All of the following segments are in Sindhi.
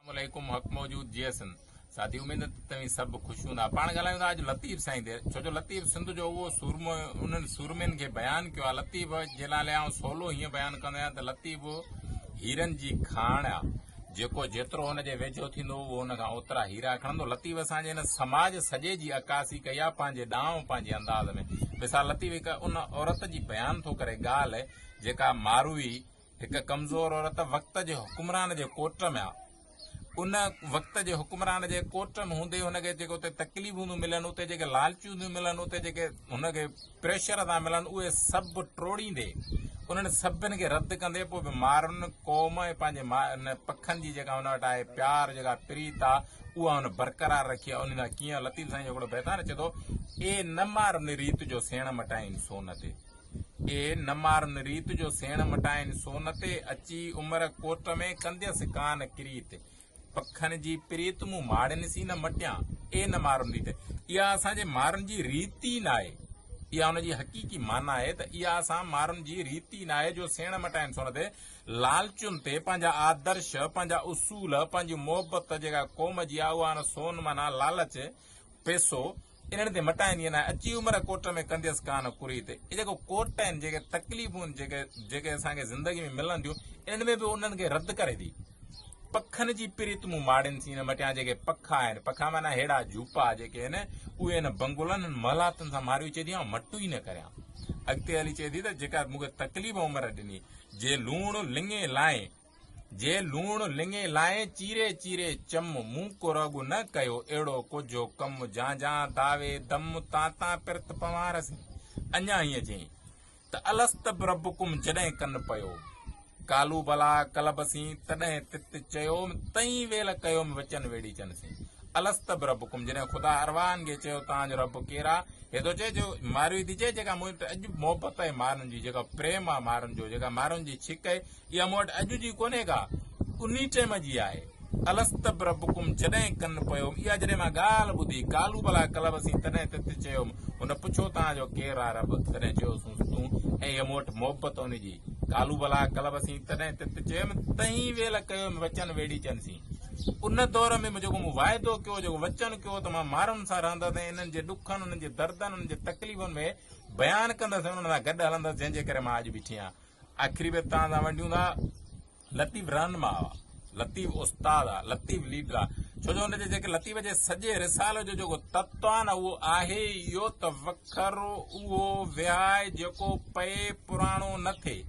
اسلام عليڪم حق موجود جي سنڌ ساٿي اميد آهي ته توهين سڀ خوش هوندا پاڻ ڳالهايون ٿا اڄ لطيف سائين تي ڇو جو لطيف سنڌ جو اهو سورمو انهن سورمين کي بيان ڪيو آهي لطيف جي نالي آئون سولو هيئن بيان ڪندو آهيان ته لطيف هيرن جي کاڻ آهي جيڪو جيترو هن جي ويجهو ٿيندو اهو هن کان اوترا هيرا کڻندو لطيف اسان جي هن سماج سڄي جي عڪاسي ڪئي آهي پنهنجي ڏانء پنهنجي انداز ۾ مثال لطيف هڪ ان عورت جي بيان ٿو ڪري ڳالهه جيڪا ماروي هڪ ڪمزور عورت وقت جي حڪمران جي ڪوٽ ۾ آ. ان وقت جي حڪمران جي ڪوٽ ۾ هوندي هن کي جيڪي اتي تڪليفون ٿيون ملن، اتي جيڪي لالچون ٿيون ملن، اتي جيڪي هن کي پريشر ٿا ملن، اهي سڀ ٽوڙيندي، انهن سڀن کي رد ڪندي پوء به مارن قوم ۽ پنهنجي ماء ان پکن جي جيڪا هن وٽ آهي پيار، جيڪا پريت آ، اها هن برقرار رکي آ. انهي سان ڪيئن لطيف سائين جو هڪڙو بيت آهي نه، چئي ٿو، اي نه مارن ريت جو سيڻ مٽائين سون تي. اي نه مارن ريت جو سيڻ مٽائين سون تي اچي عمر ڪوٽ ۾ ڪنديس ڪان ڪريت پکن جي پريت مون ماڙين سين نه مٽيان اي نه مارن ريت اها اسان جي مارن جي ريت ئي ناهي اها ان جي حقيقي معنيٰ آهي ته اها اسان مارن جي ريت ئي ناهي جو سيڻ مٽائين سون تي لالچن تي پنهنجا آدرش پنهنجا اصول پنهنجي محبت جيڪا قوم جي آهي اها ان سون معنيٰ لالچ پيسو انهن تي مٽائين ائين ناهي اچي عمر ڪوٽ ۾ ڪنديس ڪا نه ڪري تي هي جيڪو ڪوٽ آهن جيڪي تڪليفون جيڪي جيڪي اسان کي زندگي ۾ ملن ٿيون انهن ۾ به انهن کي رد ڪري ٿي پکن جي پريت مون ماڙين سين هن مٽيان جيڪي پکا آهن پکا معنی هيڙا جھوپا جيڪي آهن اهي هن بنگلن هن محلاتن سان ماريو چئي ٿي آئون مٽو ئي نه ڪريان اڳتي هلي چئي ٿي ته جيڪا مون کي تڪليف عمر ڏني جي لوڻ لڱي لائين جي لوڻ لڱي لائين چيري چيري چم مون ڪو رڳ نه ڪيو اهڙو ڪوجهو ڪم جان جان داوي دم تان تان پرت پنوار سين اڃا هيئن چين ته الست بربڪم جڏهن ڪن پيو ڪالو بلا ڪلب سين تڏهن تت چيوم تئين ويل ڪيوم وچن ويڙي چن سين الست بربڪم جڏهن خدا ارواهن کي چيو تان جو رب ڪيرا هي ٿو چئي جو ماروي ٿي چئي جيڪا مون اڄ محبت آهي مارن جي جيڪا پريم آهي مارن جو جيڪا مارن جي ڇڪ آهي اها مون وٽ اڄ جي ڪونهي ڪا انهي ٽيم جي آهي الست بربڪم جڏهن ڪن پيو اها جڏهن مان ڳالهه ٻڌي قالو بلا قلب سين تڏهن تت چيم هن پڇيو توهان جو ڪير آهي رب تڏهن چيو سونس تون ۽ هي مون وٽ محبت ان جي قالو بلا قلب سين تڏهن تت چيم تهين ويل ڪيو وچن ويڙي چن سين ان دور ۾ جيڪو مون واعدو ڪيو جيڪو وچن ڪيو ته مان مارن سان رهندس ۽ انهن جي ڏکن انهن جي دردن انهن جي تڪليفن ۾ بيان ڪندس انهن سان گڏ هلندس جنهن جي ڪري مان اڄ بيٺي آهيان آخري بيت توهان سان ونڊيون ٿا، لطيف رهنما آ، لطيف استاد آ، لطيف ليڊر آ، ڇو جو ان جي جيڪي لطيف جي سڄي رسالي جو جيڪو تتو آ نه اهو آهي ئي اهو ته وکر اهو وهائي جيڪو پئي پراڻو نه ٿئي.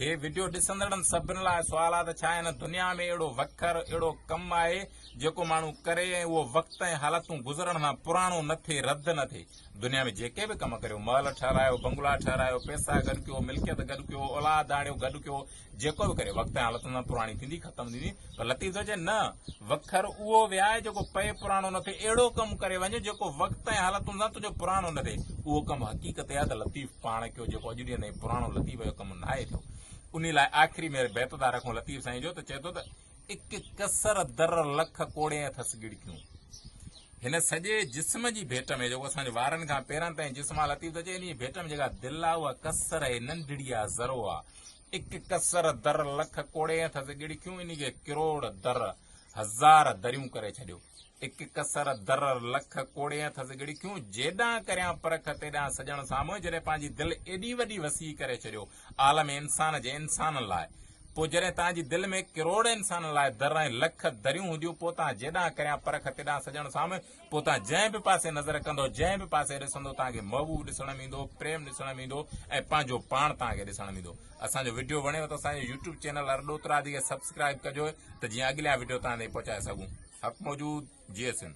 هي وڊيو ڏسندڙن سڀن لاء سوال آ ته ڇا هن دنيا ۾ اهڙو وکر، اهڙو ڪم آهي جيڪو ماڻهو ڪري ۽ اهو وقت ۽ حالتون گذرڻ سان پراڻو نه ٿئي، رد نه ٿئي. دنيا ۾ جيڪي به ڪم ڪريو، محل ٺهرايو، بنگلا ٺهرايو، پئسا گڏ ڪيو، ملڪيت گڏ ڪيو، اولاد آڻيو، گڏ ڪيو، جيڪو به ڪريو، وقت ۽ حالتن سان پراڻي ٿيندي، ختم ٿيندي، پر لطيف ٿو چئي نه، وکر اهو ويهاء جيڪو پئي پراڻو نه ٿئي، اهڙو ڪم ڪري وڃ جيڪو وقت ۽ حالتن سان تنهنجو پراڻو نه ٿئي، اهو ڪم حقيقت اها ته لطيف پاڻ ڪيو، جيڪو اڄ ڏينهن تائين پراڻو لطيف جو ڪم ناهي ٿيو، انهي لاء آخري ۾ هير بيت ادا رکون لطيف سائين جو ته چئي ٿو ته. اڪ ڪسر در لک ڪوڙين اٿس ڳڙڪيون هن سڄي جسم جي ڀيٽ ۾ جيڪو اسان جي وارن کان پيرن تائين جسم آ لطيف ٿو چئي انهي ڀيٽ ۾ جيڪا دل آ اها ڪسر هي ننڍڙي آ ذرو آ اڪ ڪسر در لک ڪوڙين اٿس ڳڙڪيون انهي کي ڪروڙ در هزار دريون ڪري ڇڏيو اڪ ڪسر درر لک ڪوڙي ٿس ڳڙي ڪيون جيڏانهن ڪريان پرک تيڏانهن سڄڻ سامهون جڏهن پنهنجي دل ايڏي وڏي وسيع ڪري ڇڏيو عالم انسان جي انسانن لاء پوء جڏهن تنهن جي دل ۾ ڪروڙ انسانن لاء در ۽ لک دريون هونديون پوء تنهن جيڏانهن ڪريان پرک تيڏانهن سڄڻ سامهون پوء تنهن جنهن به پاسي نظر ڪندو جنهن به پاسي ڏسندو تنهن کي محبوب ڏسڻ ۾ ايندو پريم ڏسڻ ۾ ايندو ۽ پنهنجو پاڻ تنهن کي ڏسڻ ۾ ايندو اسان جو وڊيو وڻيو ته اسان جو يوٽيوب چينل ارڏوترا دي کي سبسڪرائب ڪجو ته جيئن اڳليا وڊيو توهان تائين پهچائي سگهون حق موجود جئي سنڌ.